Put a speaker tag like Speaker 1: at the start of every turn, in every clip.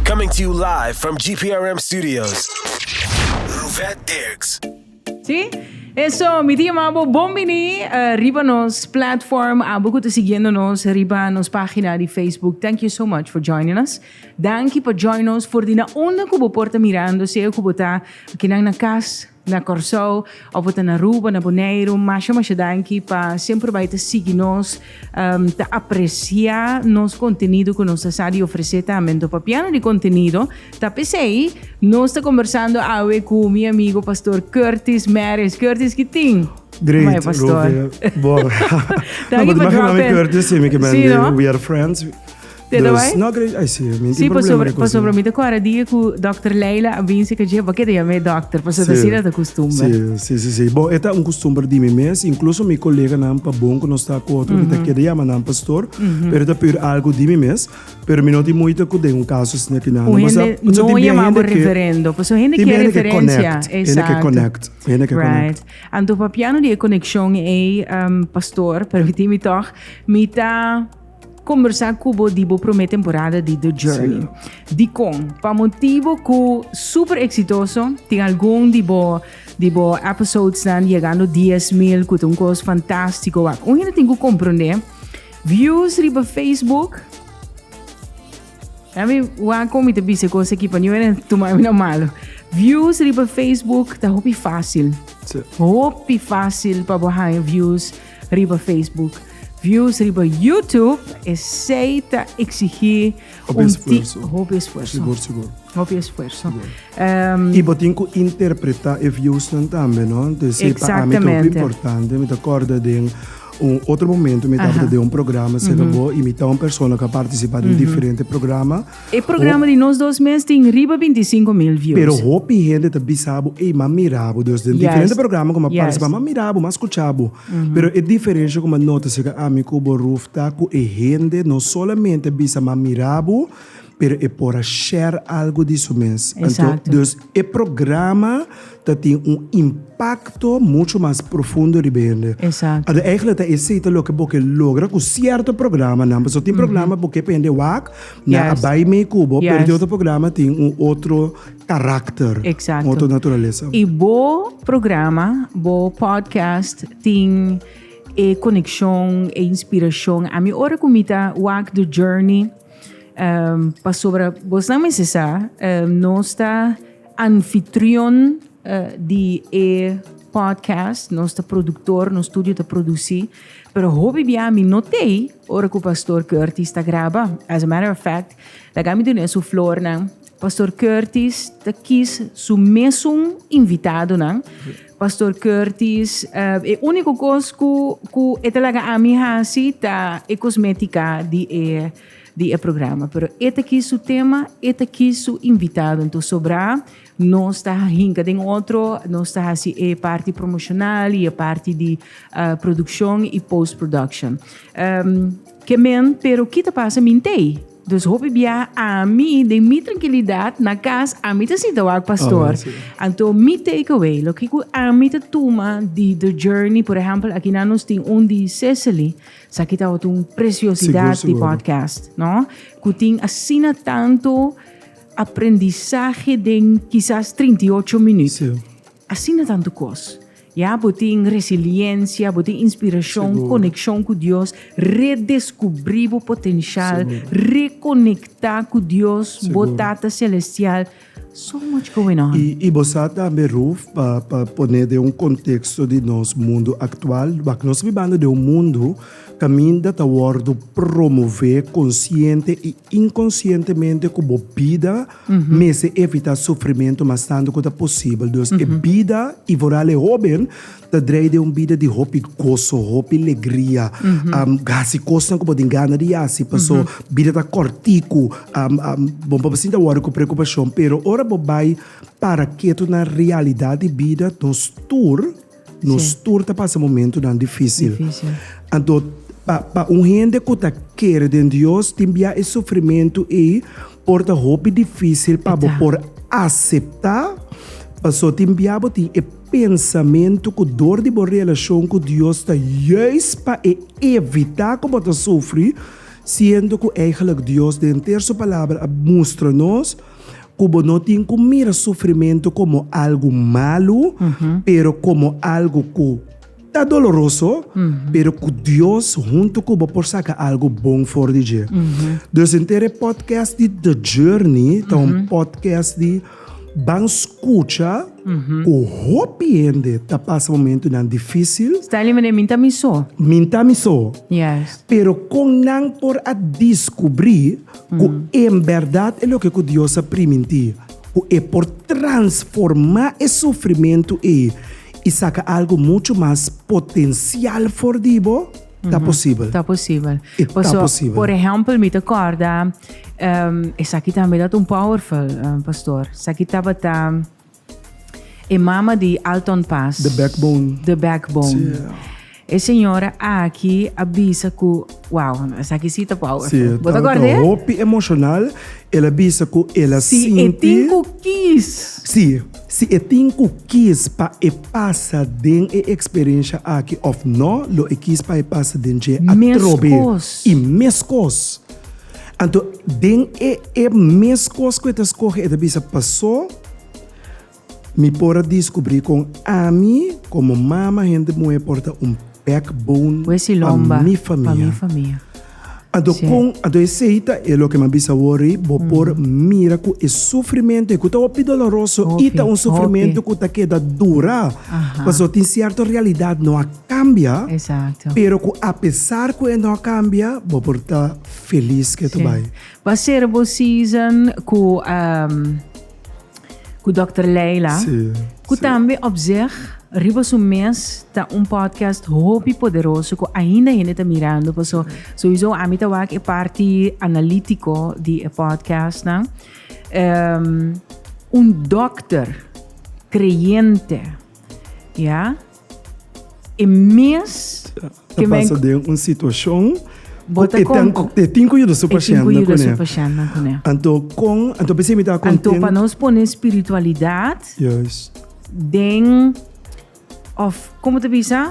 Speaker 1: Coming to you live from GPRM studios, Ruvet Dirks. Sí, eso, mi tin yama bo bon bini riba nos platform, abo cu ta siguiendo nos riba nos pagina di Facebook, thank you so much for joining us. Danki pa join nos for di na unda cu bo por ta mirando, sea cu bo ta aki nan na cas, na Kòrsou òf bo ta na Aruba, na Boneiru, masha masha danki pa semper bai ta sigui nos, ta apresiá nos kontenido ku nos ta sa di ofresé tambe. Anto papia no di kontenido, ta p'esei nos ta kombersando awe ku mi amigo Pastor Curtis Mares. Curtis, kitin? Great, Ruby. Bo. Danki pa drop in. Bo ti mashna mi Curtis, simi ke mende, we are friends. Te da bai? No cree ai si e mi tin problema de cosnan. Si pasobra mi ta cuadra dia cu Doctor Leila a bin si cachi e bakeda yama e doctor pasobra ta asina ta custumber. Si si si bon e ta un custumber di mi mes incluso mi coleganan pa bon cu nos ta cu otro mi ta keda yama nan pastor pero e ta puur algo di mi mes pero mi no tin moita cu den un caso asina tin nan un hende no yama bo reverendo pasobra hende kier referencia exacto right anto papiando di e conexion ei pastor permiti mi tog mi ta. Kombersá ku bo di bo promé temporada di The Journey. Dikon? Pa motibu ku super eksitoso, tin algun di bo di bo episodesnan yegando dies mil ku ta un kos fantástiko wak. Un hende tin ku komprondé views riba Facebook. Ami wak kon mi ta bisa e kos aki pa niun hende no tuma mi na malu. Views riba Facebook ta hopi fásil. Hopi fásil pa bo haña views. riba Facebook, views riba YouTube, esei ta exigí Hopi un ti esfuerzo. hopi esfuerzo. Sigur, sigur. Hopi esfuerzo. Sigur. Ehm, Y bo tin cu interpreta e views nan tambe, no? Entonces, sí, pa ami ta hopi Exactamente. importante. Mi ta acorda den un otro momento, mi tabata Aha. den un programa, será bo, y mi ta un persona que ha participado en diferente programa. E programa di nos dos mes tin riba binti i sinku mil views. Pero hopi hende ta bisa bo, ey, m'a mira bo dios den diferente programa cu m'a participa, m'a mira bo, m'a scucha bo. Pero e diferencia cu m'a nota acerca ami cu bo Ruth ta cu e hende no solamente bisa m'a mira bo, pero e por a share algo di su mes. Anto, dus e programa. ta tin un impakto mucho mas profundo riba hende. Exacto. Ora eigentlik ta esei ta loke bo ke logra ku sierto programanan. Paso tin programa bo ke pa hende wak, nan a bai mei ku bo, pero tin otro programa tin un otro karakter, un otro naturalesa. I bo programa, bo podcast tin e konekshon, e inspirashon. Ami ora ku mi ta wak The Journey, pasobra bosnan mester sa, nos ta. Anfitrion di e podcast, nos ta productor, nos studio ta produci, pero hopi bia mi no t'ey ora cu Pastor Curtis ta graba. As a matter of fact, laga mi dun'e su flornan. Pastor Curtis ta kies su mesun invitadonan. Pastor Curtis, e unico cos cu e ta laga ami haci ta e cosmetica di e. di e programa pero e ta kis su tema e ta kis su invitado enton sobra nos ta hinka den otro nos ta hasi e parti promocional y e parti di uh, produccion y post production um, ke men pero ki ta pasa mi ntei Dus hopi bia ami de mi tranquilidad na cas ami te sita wak pastor. Oh, sí. Anto mi takeaway, lo que cu ami te tuma di the journey, por ejemplo, aquí na nos tin un di Cecily, Saki tabata un preciosidad di podcast, no? Cu tin asina tanto aprendizaje den quizás 38 minuut. Asina tanto cos. Ya, bo tin resiliencia, bo tin inspiracion, conexion cu Dios, redescubri bo potencial, reconecta cu Dios, bo Tata Celestial. So much going on. Y bo sa tambe Ruth pa pa pone den un contexto di nos mundo actual, wak nos bibando den un mundo caminda ta wordo promove consciente y inconscientemente cu bo bida mester evita sufrimento mastando cu ta posible. Dus e bida y vooral e hoben Ta drei den un bida di hopi goso, hopi legria. Hasi kosnan ku bo tin gana di hasi, paso bida ta kòrtiku. Bo por basinti a wòri ku preokupashon, pero ora bo bai para ketu na realidat di bida, nos tur, nos tur ta pasa momentunan difísil. Anto, pa, pa un hende ku ta kere den Dios, tin biaha e sufrimentu ei por ta hopi difísil pa bo por aseptá, paso tin biaha bo tin e. pensamentu ku dor di bo relashon ku Dios ta juis pa e evitá ku bo ta sufri, siendo ku eigentlik Dios den henter Su Palabra a mustra nos ku bo no tin ku mira sufrimentu komo algu malu, pero komo algu ku. Ta doloroso, pero ku Dios huntu ku bo por saka algu bon for di dje. Dus henter e podcast di The Journey ta un podcast di ban skucha ku hopi hende ta pasa momentunan difisil. Stanley, mane min ta mi so. Min ta mi so. Yes. Pero kon nan por a diskubri ku en bèrdat e loke ku Dios a primintí, ku e por transformá e sufrimentu ei? I saka algu muchu mas potensial for di bo, ta posibel. Ta posibel. I ta posibel. Por ehempel, mi ta kòrda, esaki tambe tabata un powerful, pastor. Esaki tabata e mama di Alton Pass. The Backbone. The Backbone. E señora aki a bisa ku, wow, esaki si ta powerful. Sí, Bo ta tabata kòrd'e? hopi emocional. El a bisa ku el a Si sinti. e tin ku kis. Sí, si e tin ku kis pa e pasa den e eksperensha aki òf nò, lo e kis pa e pasa den dje atrobe. Meskos. I meskos. Anto den e e meskos ku e ta skohe, e ta bisa, Pasó, Mi por a diskubrí kon ami komo mama hende muhé por ta un backbone pa mi famia. Anto kon anto esei ta e loke mi a bisa wòrdu? Bo por mira ku e sufrimentu e ku ta hopi doloroso i ta un sufrimentu ku ta keda dura. Pasobra tin sierto realidat no a kambia, pero ku apesar ku e no a kambia bo por ta felis kei ta bai. Ba sera bo season ku. Ku Dokter Leila, ku tambe Op Zeg riba su mes ta un podcast hopi poderoso ku ainda hende ta mirando. Paso souiso ami ta wak e parti analítiko di e podcastnan. Um, un dokter kreyente, ya. E mes ke men. Ta pasa den un situashon. Bo ta kon. E tin ku yuda su pashennan kuné. E tin ku yuda su pashennan kuné. Anto kon, anto p'esei mi ta kontent. Anto pa nos pone spiritualidat. Juis. Den òf komo ta bisa?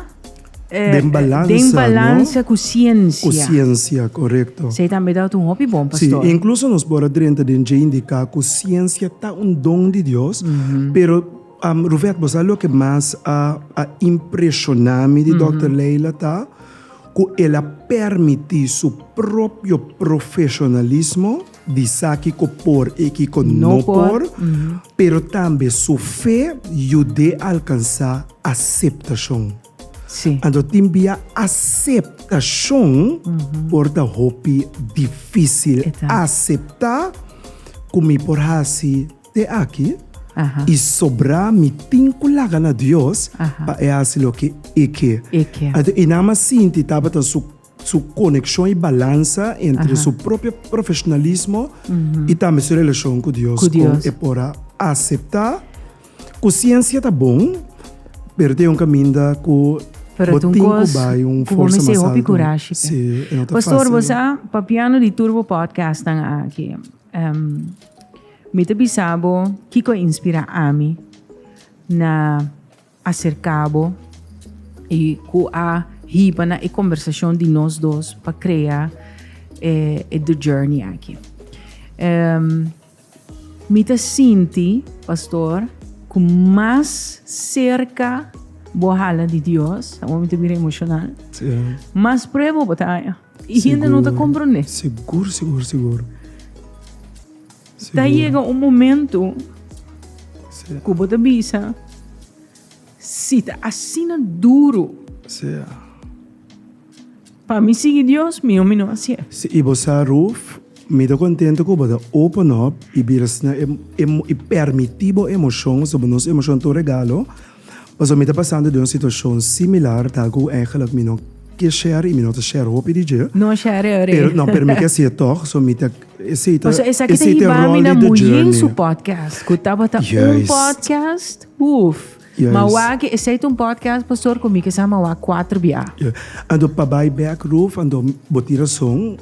Speaker 1: Den balansa, no? Den balansa ku siensia. Ku siensia, korekto. Esei tambe ta un hopi bon, pastor. Si, inkluso nos por a drenta den dje indiká ku siensia ta un don di Dios, pero. Ruvet, bo sa loke mas a a impresiona mi di Dòkter Leila ta ku el a permití su propio profesionalismo di sa kiko por i kiko no por, pero tambe su fe yud'é alkansá aseptashon. Anto tin bia aseptashon por ta hopi difísil aseptá ku mi por hasi. Te aki i sobrá mi tin ku laga na Dios pa e hasi loke e ke. Anto i nan mas sinti tabata su su konekshon i balansa entre su propio profeshonalismo i tambe su relashon ku Dios kon e por a aseptá ku siensia ta bon pero ta e un kaminda ku bo tin ku bai un forsa mas alto. Si e no ta fásil no. Mi ta bisa bo kiko a inspirá ami na aserká bo i ku a hiba na e kombersashon di nos dos pa krea e The Journey aki. Mi ta sinti, pastor, ku mas serka bo hala di Dios, amo mi ta bira emoshonal, mas prueba bo ta haña. I hende no ta komprondé. Sigur, sigur, sigur. Ta yega un momentu ku bo ta bisa, si ta asina duru pa mi sigui Dios, mihó mi no hasié. Si, i bo sa, Ruth, mi ta kontentu ku bo ta open up i bira sna e, e, i pèrmití bo emoshon, pasobra nos emoshon ta un regalo. Pasobra mi ta pasando di un situashon similar, ta algu eigenlijk mi no ke share i mi no ta share hopi di dje. No share e ore. No, pero mi ke hasié tòg, so mi ta, esei ta, esei ta ròl di de journey. Pasobra esaki ta hiba mi na Muyin su podcast, ku tabata un podcast, uf. Ma wak esei ta un podcast, pastor, ku mi ke sa mawak kuater biaha. Ja. Anto pa bai bèk, Ruth, anto bo tin rason.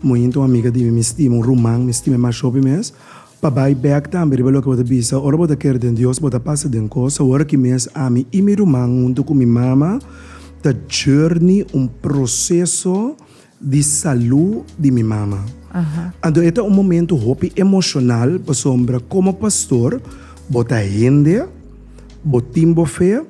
Speaker 1: Muyin ta un amiga di mi, mi stima, un ruman, mi stima e masha hopi mes. Pa bai bek tambe riba loke bo ta bisa, ora bo ta kere den Dios, bo ta pasa den kos. Awor aki mes ami i mi ruman huntu ku mi mama ta journey un proseso di salu di mi mama. Anto e ta un momento hopi emoshonal pasobra komo pastor bo ta hende, bo tin bo fe,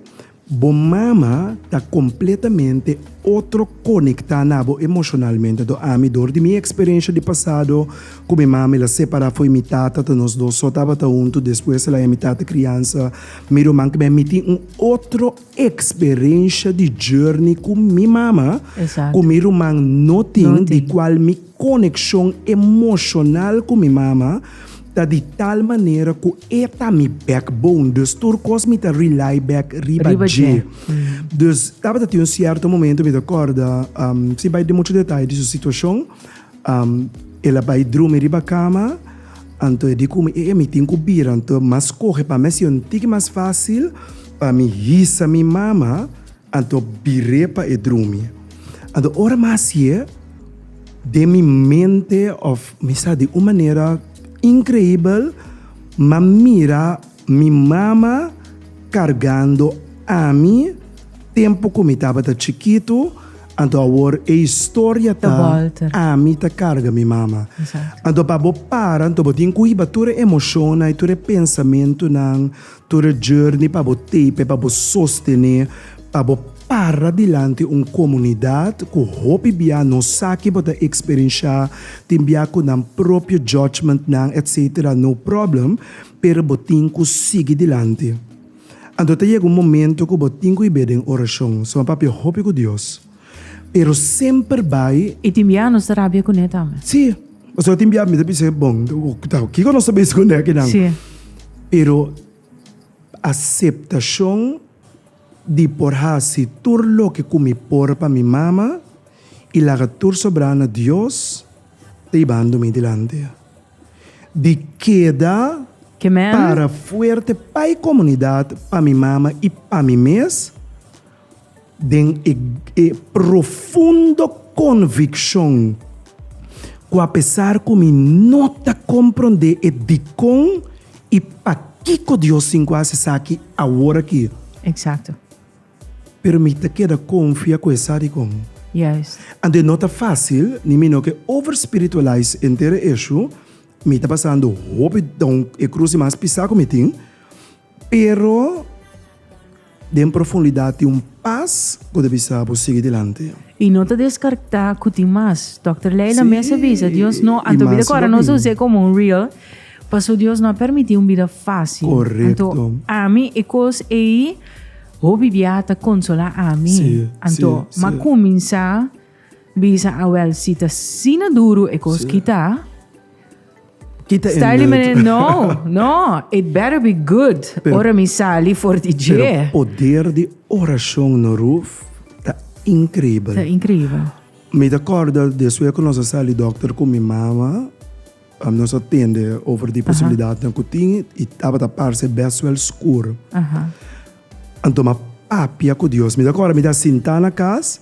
Speaker 1: Bo mama ta completamente otro conecta na bo emocionalmente do ami door di mi experiencia di pasado cu mi mama el a separa foe mi tata ta nos dos so tabata hunto despues el a ya mi tata crianza mi ruman ke mi a miti un otro experiencia di journey cu mi mama cu mi ruman no tin di cual mi Konekshon emoshonal ku mi mama ta di tal manera ku e ta mi backbone, dus tur kos mi ta rely bek riba dje. Dus tabata tin un sierto momento mi ta kòrda, sin bai den muchu detay di su situashon, el a bai drumi riba kama, anto e di ku mi e mi tin ku bira, anto mas kohe pa mi a sido un tiki mas fásil pa mi hisa mi mama. Anto bir'é pa e drumi. Anto ora mi a hasié den mi mente òf mi sa di un manera inkreibel mi a mira mi mama kargando ami tempu ku mi tabata chikitu, anto awor e historia ta ami ta karga mi mama. Anto pa bo para anto bo tin ku hiba tur e emoshonnan i tur e pensamentunan, Tur e journey pa bo tape, pa bo sostené, pa bo para dilanti un komunidat ku hopi bia no sa ke bo ta eksperenshá, tin bia ku nan propio judgementnan etc. No problem, pero bo tin ku sigui dilanti. Anto ta yega un momento ku bo tin ku i be den orashon, suma papia hopi ku Dios. Pero semper bai. I tin biaha nos ta rabia kuné tambe. Sí. Pasobra tin biaha mi ta bisa, bon, kiko nos ta bisa kuné akinan? Sí. Pero aseptashon di por hasi tur loke ku mi por pa mi mama i laga tur sobrá na Dios ta yibando mi dilanti. Di keda para fuerte pa e komunidat, pa mi mama i pa mi mes. Den e profundo konvikshon ku apesar ku mi no ta komprondé e dikon i pakiko Dios tin ku hasi esaki awor aki, Eksakto. pero mi ta keda konfia ku e sa dikon. Juist. Anto e no ta fásil, ni mi no ke overspiritualize henter e eshu, mi ta pasando hopi dòw, e krus di mas pisá ku mi tin, Pero den profundidat tin un pas ku ta bisa bo sigui dilanti. I no ta deskartá ku tin mas. Dòkter Leila mes a bisa, Dios no, anto bida ku ora nos a us'é komo un reel, paso Dios no a permití un bida fásil. Anto ami e kos ei hopi biaha ta konsolá ami. Anto m'ha kuminsá. Bisa awel si ta sina duru e kos kita. Kita e Starly nut. meneer, no, no, it better be good. Pero- Ora mi sali for di Pero dje. poder di oracion no roof ta increíbel. Ta increíbel. Mi ta corda despues cu nos a sali doctor cu mi mama. Nos a tende over di posibilidadnan ku tin i tabata parse bes wel skur. Anto m'a papia ku Dios. Mi ta kòrda mi ta sintá na kas,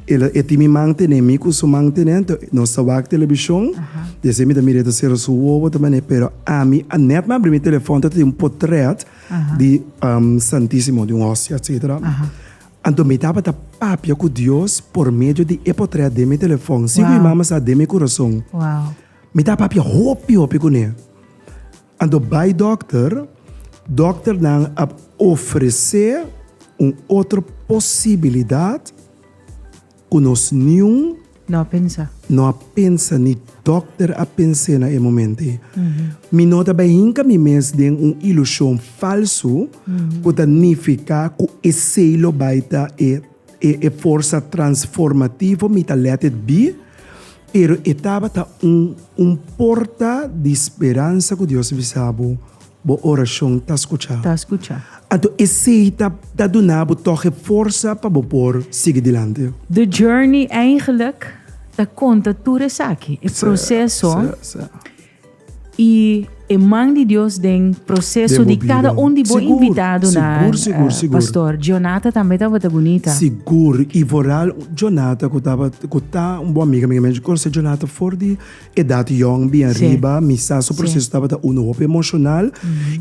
Speaker 1: e lo e tin mi man tene, mi ku su man tene. Anto nos ta wak telebishon, di esei mi ta mira e ta sera su wowo, ta manera. Pero ami a nèt mi a abri mi telefòn ta tin un potrèt di Santísimo, di un ostia, etsetera. Anto mi tabata papia ku Dios por medio di e potret den mi telefòn, si ku mi mama sa den mi kurason. Mi ta papia hopi hopi kuné. Anto bai dòkter, dòkternan a ofresé un otro posibilidat. Ku nos niun. No a pensa. No a pensa ni dòkter a pens'é na e momentu ei. Mi no ta bai hinka mi mes den un ilushon falsu ku ta nifiká ku esei lo bai ta e e forsa transformativo mi ta let it be, pero e tabata un un porta di speransa ku Dios bisa bo. Bo orashon ta skuchá. Ta skuchá. Anto esei ta ta duna bo tòg e forsa pa bo por sigui dilanti. The Journey eingelik ta konta tur esaki, e proseso i e man di Dios den proseso di kada un di bo invitado na Pastor Jonathan tambe tabata bunita. Sigur, i foral Jonathan ku tabata ku ta un bon amiga mi. Mei konosé Jonathan for di Edat yong bien riba, mi sa su proceso tabata uno hopi emocional,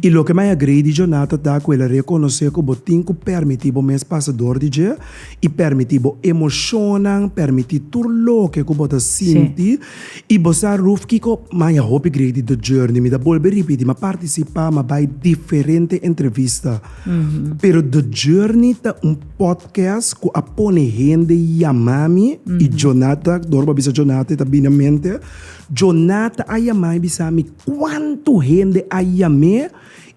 Speaker 1: y loke mi a agree di Jonathan ta cu el a reconoce cu bo tin cu permiti bo mes pasa dor di dje, y permiti bo emocionnan, permiti tur loke cu bo ta sinti, y bo sa Ruth kico mi a hopi agree di The Journey, mi ta bolbe ripiti, mi a participa, mi a bay diferente entrevista, pero The Journey ta un. Kes ku a pone hende yama mi i Jonata, Dorba a bisa Jonata i ta bini na mente, Jonata a yama i bisa mi kuantu hende a yam'é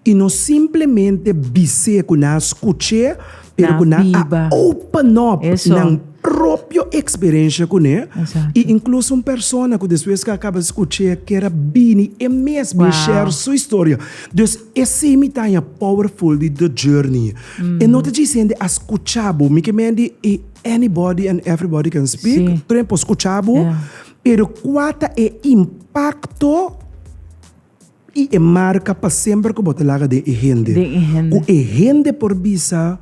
Speaker 1: i no simplemente bis'é ku nan a skuch'é pero ku nan a open up nan propio eksperensha kuné i inkluso un persona ku despues ku a kaba skuch'é a kere bini e mes bin share su historia. Des esei mi taña powerful di The Journey. E no ta djis hende a skucha bo. Mi ke mendi e anybody and everybody can speak, tur hende por skucha bo, pero kua ta e impakto i e marka pa semper ku bo ta laga den e hende? Den e hende. Ku e hende por bisa,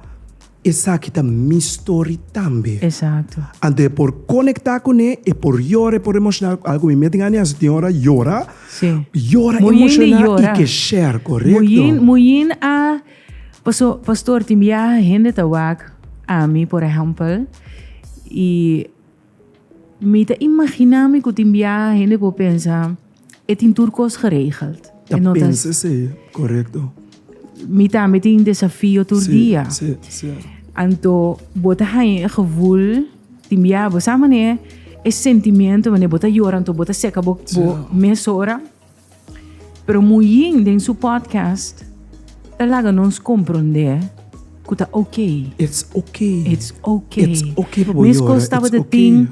Speaker 1: Esaki ta mi story tambe. Esakto. Anto e por konektá kuné, e por yora, e por emoshoná. Algu mi meten andi hasi tin ora yora. Sí. Yora, emoshoná i ke share, korekto. Muyin, muyin a. Paso, Pastor, tin biaha hende ta wak ami, por ehèmpel, i mi ta imaginá mi ku tin biaha hende por pensa, E tin tur kos geregeld. Ta pensa esei, korekto. Mi tambe tin desafio tur dia. Sí, sí, sierto. Anto bo ta haña e gevoel tin biaha bo sa manera e sentimiento wanneer bo ta yora anto bo ta seka bo mes ora? Pero Muyin den su podcast ta laga nos komprondé ku ta oke. It's oke. It's oke. It's oke pa bo yora. Meskos tabata tin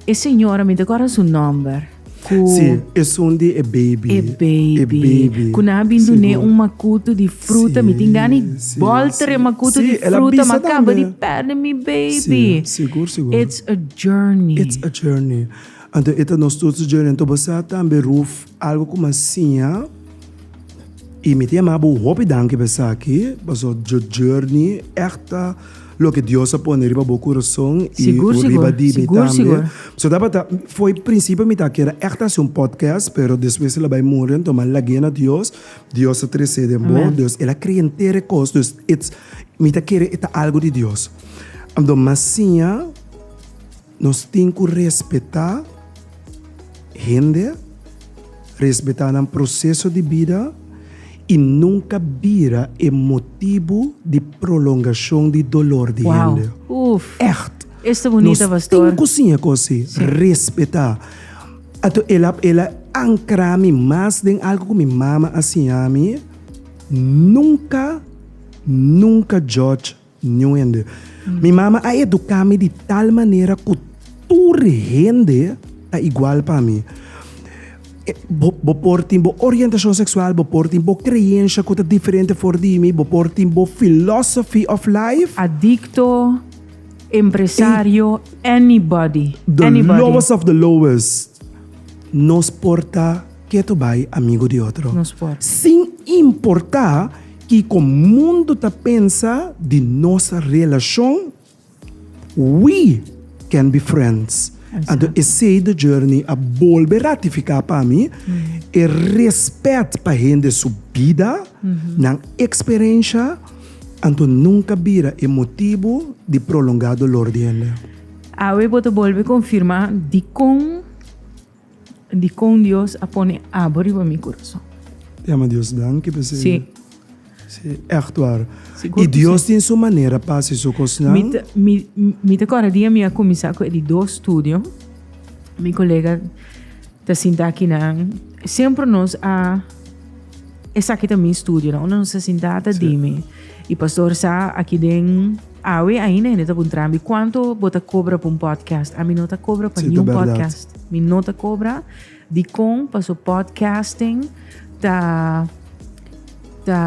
Speaker 1: e señora, mi ta kòrda su nòmber. Si, esun di e beibi. E beibi. E beibi. Ku nan a bin dun'é un makutu di fruta. Mi tin gana di bòlter e makutu di fruta, ma kaba di pèrdè mi beibi. Si, sigur, sigur. It's a journey. It's a journey. Anto e ta nos tur su Jurgen Tobo sa tambe Ruth algo ku m'a siña i mi ta yama bo un hopi danki pa esaki paso yo Jurgen ègt ta loke Dios a pone riba bo kurason i riba di mi tambe. So tabata fo'i prinsipio mi ta kere ègt hasi un podcast pero despues el a bai muri anto m'a lag'e na Dios, Dios a trese den bo dus el a krea henter e kos dus mi ta kere e ta algu di Dios anto m'a siña. Nos tin ku respetá hende, respetá nan proseso di bida i nunka bira e motibu di prolongashon di dolor di hende. Ègt, nos tin ku siña kos si, respetá. Anto el a el a ankra mi mas den algu ku mi mama a siña mi, Nunka, nunka jòdj. Nuende. Mi mama a educa mi di tal manera cu tur hende ta igual pa mi. Bo, bo por tin bo orientacion sexual, bo por tin bo creencia cu ta diferente for di mi, bo por tin bo philosophy of life. Adicto, empresario, anybody, The anybody. lowest of the lowest. Nos por ta keto bay amigo di otro. Nos por. Sin importa. Kiko mundu ta pensa di nos relashon? We can be friends. Anto esei do journey a bolbe ratifiká pa mi e respèt pa hende su bida, nan eksperensha, anto nunka bira e motibu di prolongá dolor di hende. Awe bo ta bolbe konfirmá dikon? Dikon Dios a pone abo riba mi kurason. Di a ma Dios danki pa esei. Sí. Sí, ègt war. Sigur ku si. I Dios tin su manera pa hasi su kosnan. Mi ta mi mi ta kòrda dia mi a kuminsá ku e di dos studio. Mi kolega ta sinta aki nan. Semper nos a. Esaki ta mi studionan. Unda nos ta sintá ta dimi. I pastor sa aki den awe ainda hende ta puntrami kuantu bo ta kobra pa un podcast. Ami no ta kobra pa niun podcast. Mi no ta kobra. Dikon? Paso podcasting ta ta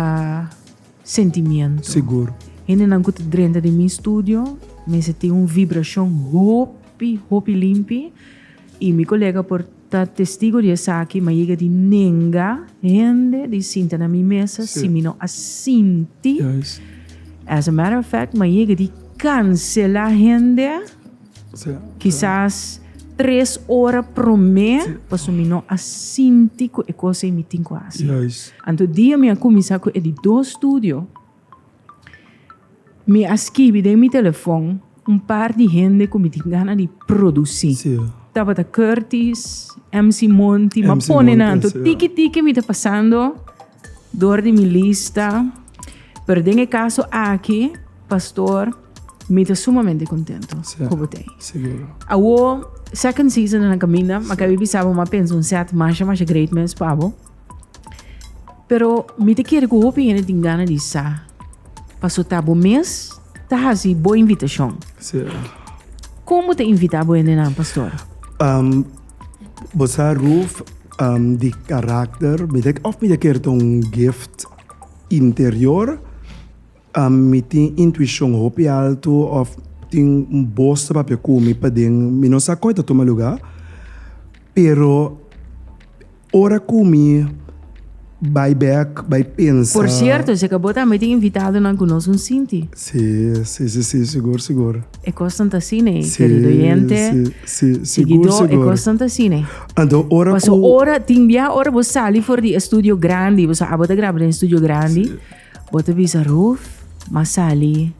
Speaker 1: sentimiento. Sigur. Hendenan ku ta drenta den mi studio mester tin un vibrashon hopi hopi limpi i mi kolega por Ta testigo di esaki, ma yega di nenga hende di sinta na mi mesa si mi no a sinti. As a matter of fact, ma yega di cancela hende kisas tres ora prome paso mi no a sinti cu e cos ey mi tin cu haci. Anto dia mi a cuminsa cu e di dos studio. Mi a skibi den mi telefon un par di hende ku mi tin gana di produsí. Sí. Tabata Curtis, MC Monty, ma MC pone nan Monty, to. sí. Tiki tiki mi ta pasando dor di mi lista, pero den e kaso aki, pastor, mi ta sumamente kontento Sí. ku bo tei. Seguro. Awo second season ta na kaminda, ma kabi bisa bo mi a pensa un set masha masha great mens pa bo. Pero mi te kere ku hopi hende tin gana di sa. Paso ta bo mes ta hasi bo invitashon. Sí. Kon bo ta invitá bo hendenan, pastor? Um, bo sa roof um, di karakter, mi te, of mi te kere ta un gift interior, Mi tin intuishon hopi altu of tin un bos ta papia ku mi paden, mi no sa kon e ta tuma luga, pero ora ku mi bai bek, bai pensa. Por sierto, esei ka bo tambe tin invitadonan ku nos un sinti. Si, si, si, si, sigur, sigur. E kosnan ta asina ei, kerido oyente, siguidó, e kosnan ta asina ei. Anto, ora ku. Paso ora, tin bia ora bo sali for di e studio grandi, bo sa abo ta graba den e studio grandi. Bo ta bisa Ruth, m'a sali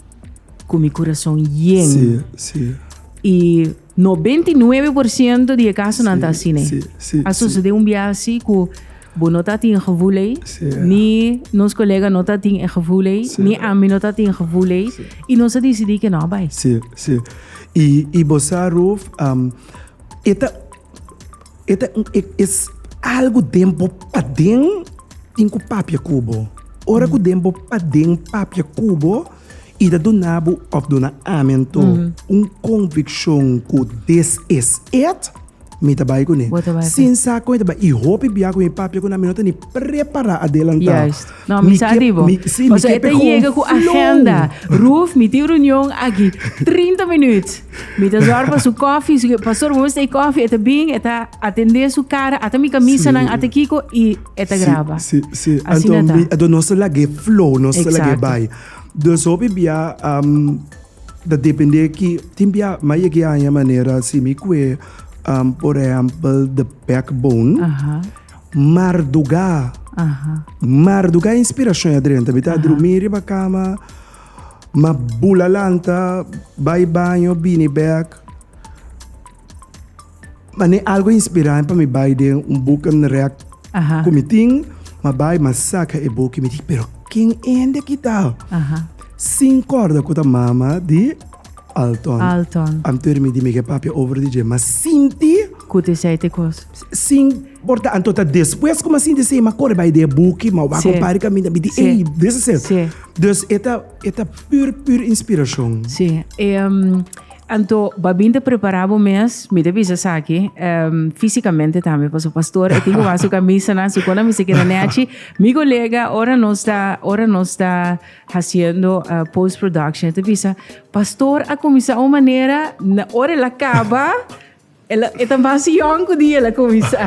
Speaker 1: cu mi corazon yen. Sí, sí. Y 99 por ciento di e casonan ta así, né? Sí, sí. A sucedé un biaha así cu bo no ta tin gevoel ey, Sí. ni nos colega no ta tin e gevoel ey, Sí. ni ami no ta tin gevoel ey, Sí. y nos a decidí que no a bay. Sí, sí. Y, y bo sa, Ruth, am, e ta, E ta un e es algu den bo paden tin ku papia ku bo. Ora ku den bo paden papia ku bo i ta duna bo òf duna amentu un konvikshon ku des es et, mi ta bai kuné. Bo ta bai kuné. Sin sa kon mi ta bai. I hopi biaha ku mi papia ku nan mi no ta ni prepará adelantá. Juist. No, mi sa di bo. Mi, mi, sí, mi Osea, e kepe ta gewoon yega ku flow. agenda. Ruf, mi tin reunion aki 30 minuut. Mi ta zorg pa su koffie, su, pa sor bo mester e koffie. E ta bin, e ta atendé su kara, ata mi kamisanan, Sí. ata kiko, i e ta Sí, graba. Sí, sí. Asina Anto ta. mi, do nos ta lag'é flow, nos ta lag'é Exacto. bai. Dus hopi bia, am, ta dependé ki, tin bia, mi a yeg'é haña manera, si mi kue, am, por ehempel, de backbone, Aha. Mardugá. Mardugá inspirashon ya drenta. Mi ta drumí riba kama, ma bula lanta, bai baño, bini bèk. Ma ne algu a inspirá mi pa mi bai den un buk and rèk ku mi tin. Ma bai, ma saka e buk i mi di, pero ken hende aki ta? Sin kòrda ku ta mama di Alton. Alton. Anto mi di Miguel, papia over di dje, ma sinti. Ku ta esei te kos. Sin porta anto ta despues ku mi a sinti esei mi a kore bai den e buki, mi a wak un par di kaminda mi di ey dis is it. Dus e ta e ta pur pur inspirashon. Sí, anto babin ta prepará bo mes, mi ta bisa esaki, físikamente tambe, pasobra pastor e tin ku wak su kamisanan, su kosnan mester keda nèchi. Mi kolega ora nos ta ora nos ta hasiendo post production e ta bisa, Pastor a kuminsá un manera, ora el a kaba E ta mas jong ku di el a kuminsá.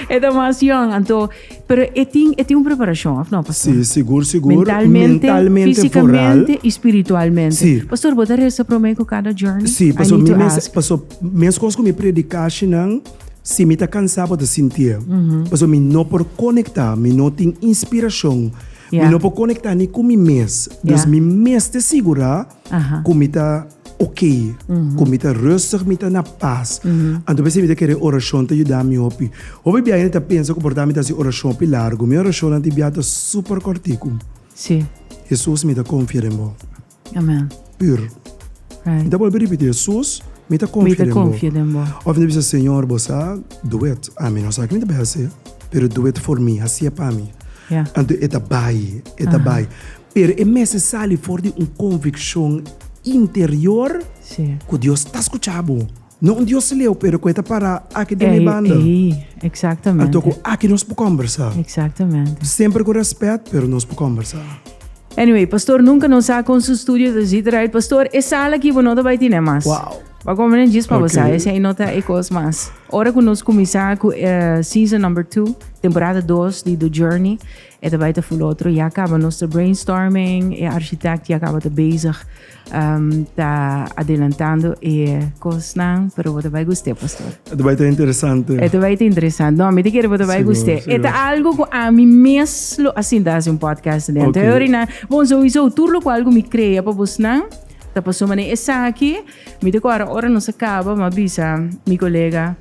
Speaker 1: E ta mas jong, anto, pero e tin e tin un preparashon, òf no, pastor? Sí, sigur, sigur. Mentalmente, Mentalmente, físikamente i spiritualmente. Sí. Pastor, bo ta resa promé ku kada journey? Sí, paso mi mes, paso meskos ku mi prediká ashinan, si mi ta kansá bo ta sintié. Paso mi no por konektá, mi no tin inspirashon, mi no por konektá ni ku mi mes. Dus mi mester sigurá. ku mi ta oké, ku mi ta rustig, mi ta na pas. Anto mi sibi ta kere orashon ta yuda mi hopi. Hopi biaha mi ta pensa ku por mi ta hasi orashon hopi largu. Mi orashonnan di biaha ta super kòrtiku, Hesus, mi ta konfia den bo. Pür. Mi ta bolbe ripití, Hesus, mi ta konfia den bo. Òf mi ta bisa, Señor, bo sa, dú et. Ami no sa ke mi ta bai hasi, pero dú et for mi, hasi et pa mi. Anto e ta bai, e ta bai. Pero e mester sali for di un conviccion interior cu Dios ta scucha bo. No un Dios leu, pero cu e ta para aki den mi banda. Anto cu aki nos por combersa. Semper cu respet, pero nos por combersa. Anyway, Pastor nunca no sa con su studio ta djita draai. Pastor, e sala aki bo no ta bay tine mas. Bo come nan djis pa bo sa. Esey no ta e cos mas. Ora cu nos cuminsa cu season number two, temporada dos di The Journey, E ta bai ta fula otro, ya caba nos ta brainstorming, e architect ya caba ta bezig ta adelantando e cosnan, pero bo ta bai guste pastor. E ta bai ta interesante. E ta bai ta interesante. No, mi ta kere bo ta bai guste. E ta algo cu ami mes lo a sinta haci un podcast den. Ta yori nan, bon sowiso tur loke algo mi crea pa bosnan ta paso manera esaki. Mi ta kora ora nos a caba mi a bisa mi colega,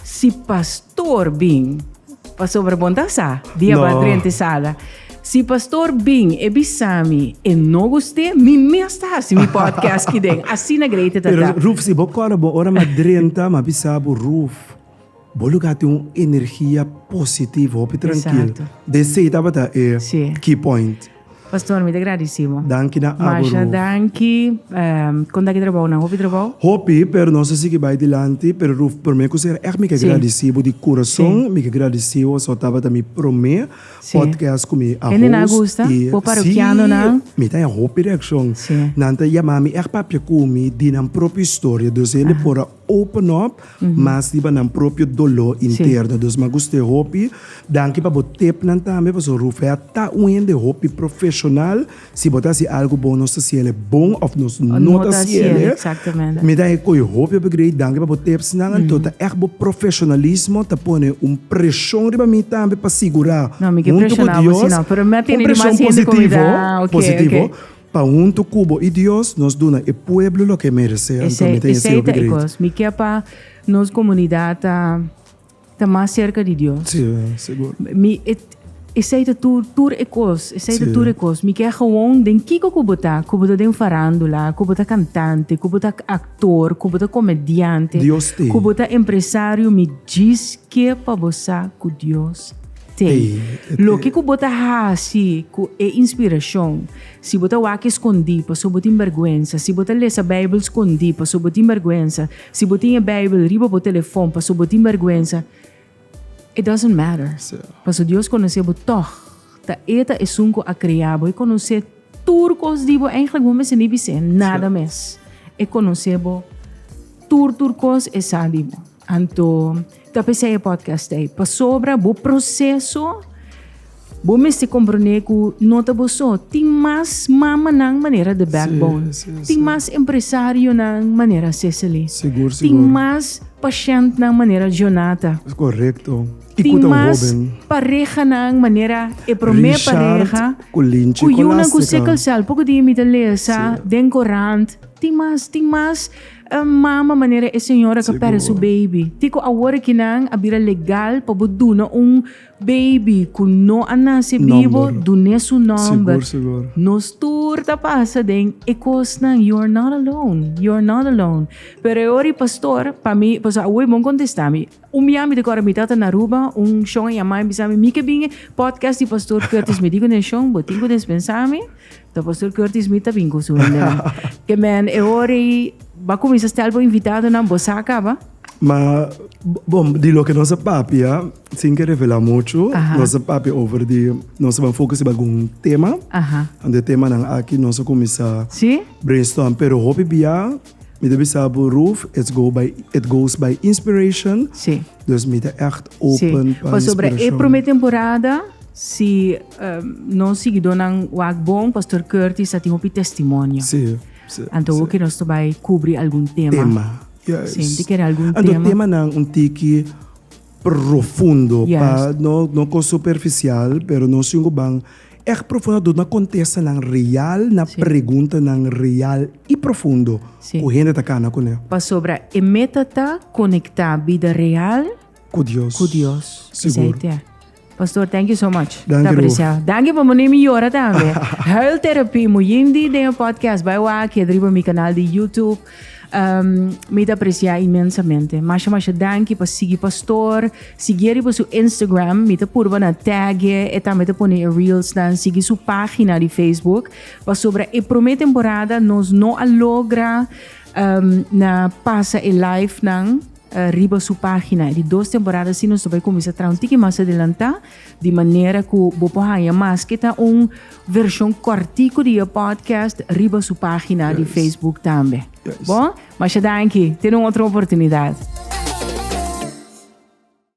Speaker 1: Si pastor bin, pasobra bon ta sa, di a bai drenta e sala. Si pastor bin, e bisami, e no gust'é, mi mes ta hasi mi podcast ki den. Asina greite ta ta. Pero Ruth, si bo kòrda bo ora m'a drenta, m'a bisa bo, Ruth, bo lugá tin un energia positivo, hopi trankil. Esatto. Des'ei tabata e key point. Pastor mi ta gradici bo. Danki na Abu Ruf. Masha danki. Con ta ki trabao nan? Hopi trabao? Hopi, pero nos a sigui bay dilanti. Pero Ruf, prome cos era echt mi ke gradici bo di curason. Mi ke gradici bo so tabata mi prome podcast cu mi a host. Y si, mi ta haya hopi reaccion. Nan ta yama mi echt papia cu mi di nan propio historia. Dus hende por a open up mas riba nan propio doló interno dus ma guste hopi danki pa bo tep nan tambe paso Ruffe a ta un hende hopi profesional si bo ta hasi algu bon nos ta siele bon of nos no ta siele mi ta e koyo hopi hopi grei danki pa bo teps nan anto ta echt bo profesionalismo ta pone un preshon riba mi tambe pa sigura huntu ku Dios un preshon positivo positivo. Pa huntu ku bo i Dios nos duna e pueblo loke e meresé. Ami promete e Seo Bigret. Esei ta e kos. Mi kier pa nos komunidat ta ta mas serka di Dios. Si, segur. Mi e esei ta tur tur e kos. Esei ta tur e kos. Mi kier gewoon den kiko ku bo ta, ku bo ta den farandula, ku bo ta kantante, ku bo ta aktor, ku bo ta komediante, Dios te. ku bo ta empresario, mi djis ke pa bo sa ku Dios. Te, loke ku bo ta hasi ku e inspirashon? Si bo ta wak eskondí pasobra bo tin bèrgwensa, si bo ta lesa Beibel skondí pasobra bo tin bèrgwensa, si bo tin e Beibel riba bo telefòn pasobra bo tin bèrgwensa, it doesn't matter. Pasobra Dios konosé bo tòg. Ta e ta Esun ku a krea bo. E konosé tur kos di bo. Eindelijk bo mester ni bis'é nada mes. E konosé bo tur tur kos, e sa di bo. Anto, ta p'esei e podcast ei. Pasobra bo proseso, bo mester komprendé ku no ta bo so. Tin mas mamanan manera The Backbone. Sí, sí, sí. Tin mas empresarionan manera Cicely. Sigur, sigur. Tin mas pashèntnan manera Jonata. Es korekto. I ku Tin tan mas hoben. parehanan manera e promé Richard pareha. ku Linchi Ku yunan ku Kolastica. sickle cell, poko di mi ta lesa Sí. den korant. Tin mas, tin mas. E mama manera e señora ka perde su baby. Tin ku awor aki nan a bira legal pa bo duna un baby ku no a nase bibo, dun'é su nòmber. Nos tur ta pasa den e kosnan, you are not alone, you are not alone. Pero e ora di pastor, pa mi, pasobra awe bon kontestá mi. Un bia mi ta kòrda mi tata na Aruba, un shon a yama mi, a bisa mi, mi ke bin e podcast di pastor Curtis, mi di kune shon, bo tin ku despensá mi? Ta Pastor Curtis mi ta bin ku su hende. Ke men e ora ei ba kuminsa stel bo invitadonan bo sa kaba? Ma bom, di loke nos a papia, sin ke revela muchu, Aha. nos a papia over di nos ban fokus riba algun tema. Aha. Anto e temanan aki nos a kuminsa Si? brainstorm, pero hopi bia Mi ta bisa bo Ruth, it's go by it goes by inspiration. Sí. Dus mi ta echt Sí, open pa pasobra e inspirashon. promé temporada, si eh, nos siguidónan wak bon, Pastor Curtis a tin hopi testimonio. Sí, sí. Anto hopi nos ta bai kubri algun tema. Tema. Yes. Sí, ti kere algun Anto tema. temanan un tiki Profundo, pa no no con superficial, pero nos tin cu ban echt profundo door na contesta nan real na preguntanan real y profundo cu hende ta cana cune. Pasobra e meta ta conecta bida real cu Dios. Sigur. Pastor, thank you so much. Danki Ta apreciado. Danki por mane mi yora tambe. Huil therapy mo yindi den e podcast bai wa aki riba mi canal di YouTube. Um, mi ta aprecia inmensamente. Masha masha danki pa sigi pastor. Sigi riba su Instagram. Mi ta purba na tag e tambe ta pone e reels dan. Sigi su pagina di Facebook. Pa sobra e prome temporada nos no a logra um, na pasa e live nan. riba su página. E di dos temporada así nos ta bai kuminsá traha un tiki mas adelantá di manera ku bo por haña maske ta un vershon kòrtiku di e pòdkast riba su página di Facebook tambe. Bon? Masha danki. Tene un otro oportunidat.